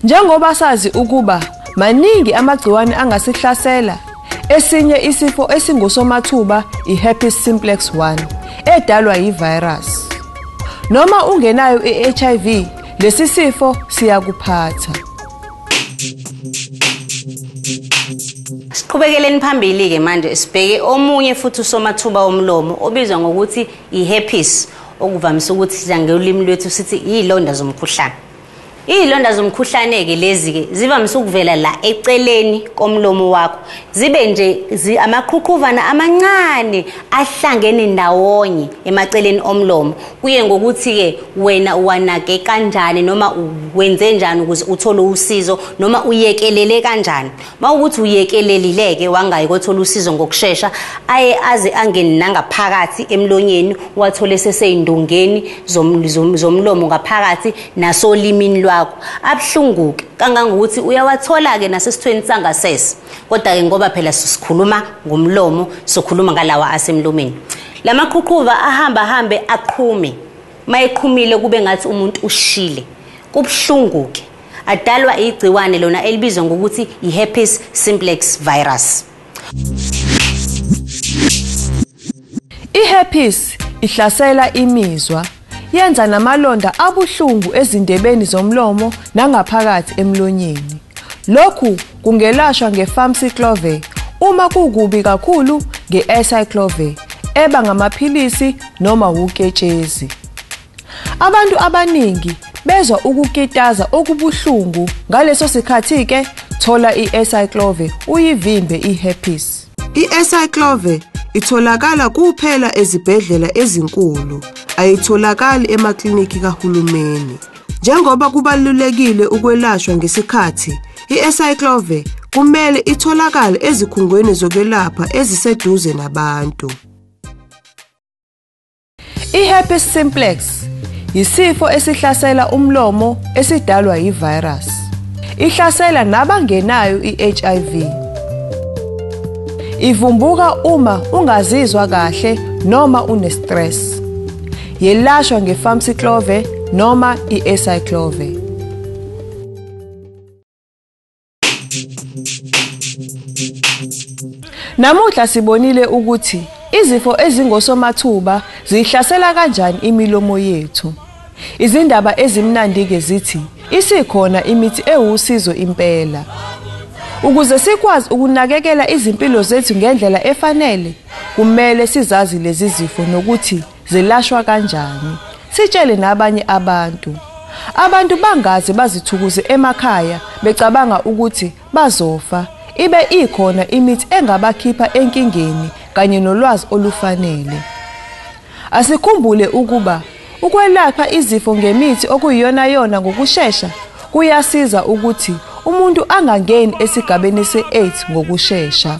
Njengoba sazi ukuba maningi amagciwane angasihlasela, esinye isifo esingusomathuba i-herpes simplex 1 edalwa yi-virus. Noma ungenayo i-HIV, lesi sifo siyakuphatha. Siqhubekeleni phambili ke manje sibheke omunye futhi usomathuba omlomo obizwa ngokuthi iherpes okuvamise ukuthi sidla ngolimi lwethu sithi izilonda zomkhuhlane. Izilonda zomkhuhlane ke lezi ke zivamise ukuvela la eceleni komlomo wakho. Zibe nje amaqhuqhuvana amancane ahlangene ndawonye emaceleni omlomo. Kuye ngokuthi-ke wena uwanake kanjani noma wenze njani ukuze uthole usizo noma uyekelele kanjani. Uma ukuthi uyekelelile-ke wangayi kothola usizo ngokushesha, aye aze angene nangaphakathi emlonyeni wathole sesey'ndongeni zomlomo ngaphakathi nasolimini lwakho. Abuhlungu-ke kangangokuthi uyawathola-ke nasesithweni sangasese. kodwa-ke ngoba phela sikhuluma ngomlomo sokhuluma ngalawa asemlomeni la maqhuqhuva ahamba ahambe aqhume uma eqhumile kube ngathi umuntu ushile kubuhlungu-ke adalwa igciwane lona elibizwa ngokuthi i-herpes simplex virus I-herpes ihlasela imizwa, yenza namalonda abuhlungu ezindebeni zomlomo nangaphakathi emlonyeni. Lokhu kungelashwa nge-famciclovir uma kukubi kakhulu nge-acyclovir eba ngamaphilisi noma wuketshezi. Abantu abaningi bezwa ukukitaza okubuhlungu ngaleso sikhathi ke thola i-Ecyclove uyivimbe i-herpes. I-Ecyclove itholakala kuphela ezibhedlela ezinkulu, ayitholakali emaklinikhi kahulumeni. Njengoba kubalulekile ukwelashwa ngesikhathi, i-Ecyclove kumele itholakale ezikhungweni zokwelapha eziseduze nabantu. I-herpes simplex yisifo esihlasela umlomo esidalwa yi-virus. Ihlasela nabangenayo i-HIV. Ivumbuka uma ungazizwa kahle noma unestress. Yelashwa nge-famciclove noma i-acyclove. Namuhla sibonile ukuthi izifo ezingosomathuba zihlasela kanjani imilomo yethu. Izindaba ezimnandi-ke zithi isikhona imithi ewusizo impela. Ukuze sikwazi ukunakekela izimpilo zethu ngendlela efanele, kumele sizazi lezi zifo nokuthi Zilashwa kanjani? Sitshele nabanye abantu. Abantu bangaze bazithukuze emakhaya becabanga ukuthi bazofa ibe ikhona imithi engabakhipha enkingeni kanye nolwazi olufanele. Asikhumbule ukuba ukwelapha izifo ngemithi okuyiyona yona ngokushesha kuyasiza ukuthi umuntu angangeni esigabeni se-AIDS ngokushesha.